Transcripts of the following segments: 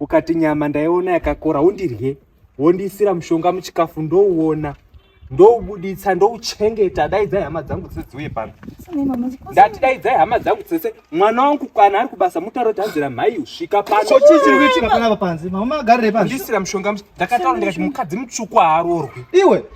ukati nyama ndaiona yakakora undirye wondiisira mushonga muchikafu ndouona ndoubuditsa ndouchengeta daidzai hama dzangu dzese dziuye pano ndati daidzai hama dzangu dzese mwana wangu kana ari kubasa mutauro kuti hanzira mhai usvika panoisira mushonga ndakataura ndikati mukadzi mutsvuku haarorwi iwe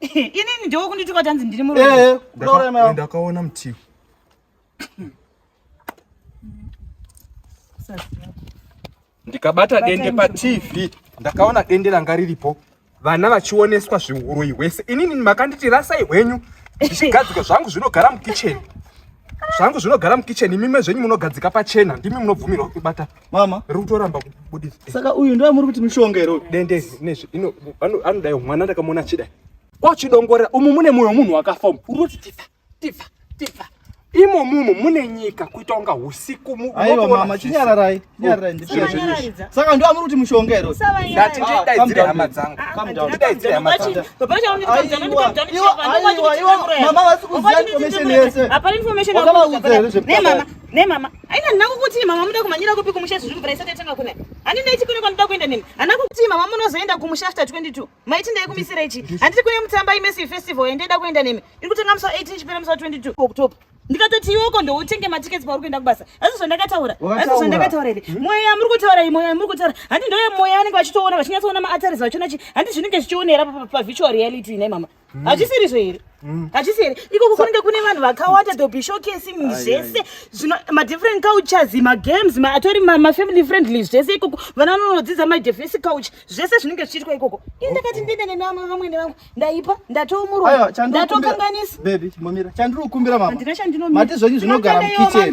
inini ndiwo kundituka tanzi ndiri muroyi ndakaona mutiwo ndikabata dende patv ndakaona dende ranga riripo vana vachioneswa zviuroyi hwese inini makanditi rasai hwenyu ndichigadzika zvangu zvinogara mukicheni zvangu zvinogara mukicheni imimwe zvenyu munogadzika pachena ndimi munobvumirwa kubata mama ri kutoramba kubudisa saka uyu ndo amuri kuti mishonga here dende nezvi ino anodai mwana ndakamuona achidai kwachidongorera umu mune mwoyo munhu wakafa umu uri kuti tifa tifa tifa imo mumu mune nyika kuita kunga usiku aiwa mama chinyararai chinyararai oh, saka ndo amuri kuti mushonga here ndati ndidaidzire ah, hama dzangu ndidaidzire hama dzangu mama vasi kuziva information yese hapana information yese mama Ne mama, aina ndina kukuti mama muda kumanyira kupi kumusha zviri mvura isati yatanga kuna. Ani ndai chikune kwa ndida kuenda nini? Ana kukuti mama munozoenda kumusha after 22. Maiti ndai kumisira ichi. Handiti kune mutamba imesi festival ende ndida kuenda nemi. Iri kutanga musa 18 chipera musa 22 October. Ndikatoti iwoko ndoutenge matickets pauri kuenda kubasa. Asi zvandakataura. Asi zvandakataura iri. Hmm? Mweya muri kutaura iyi, mweya muri kutaura. Handi ndoye mweya anenge vachitoona vachinyatsoona ma arteries vachona chi. Handi zvinenge zvichionera pa virtual reality nei mama. Mm. hachisiri zvo here mm. hachisi here ikoko kunenge kune vanhu vakawata dobe showcasing zvese zvino madifferent cultures magames atori mafamily friendly zvese ikoko vana vanonodzidza madefesi culture zvese zvinenge zvichiitwa ikoko ini ndakati ndiende nemama vamwene vangu ndaipa ndatoumurwa ndatokanganisa chandiri kukumbira mama handina chandinomati zvenyu zvinogara mukichen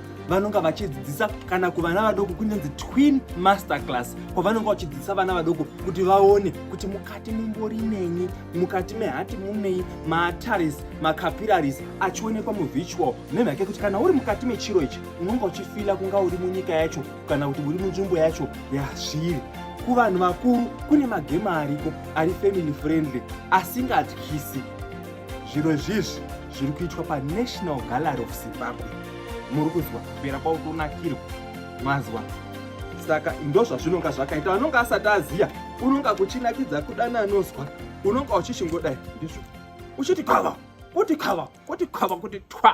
vanonga vachidzidzisa kana kuvana vadoko kunonzi twin master class kwavanonga vachidzidzisa vana vadoko kuti vaone kuti mukati mumbori nenyi mukati mehati munei maataris macapiraris achionekwa muvitual nemhake kuti kana uri mukati mechiro ichi unonga uchifila kunga uri munyika yacho kana kuti uri munzvimbo yacho yazviri kuvanhu vakuru kune magema ariko ari family friendly asingatyisi zviro zvizvi zviri kuitwa panational gallery of zimbabwe muri kuzwa kupera kwautonakirwa mazwa saka ndozvazvinonga zvakaita anonga asati aziya unonga kuchinakidza kudana anozwa unonga uchichingodai ndizvo uchiti kava kuti kava kuti kava kuti twa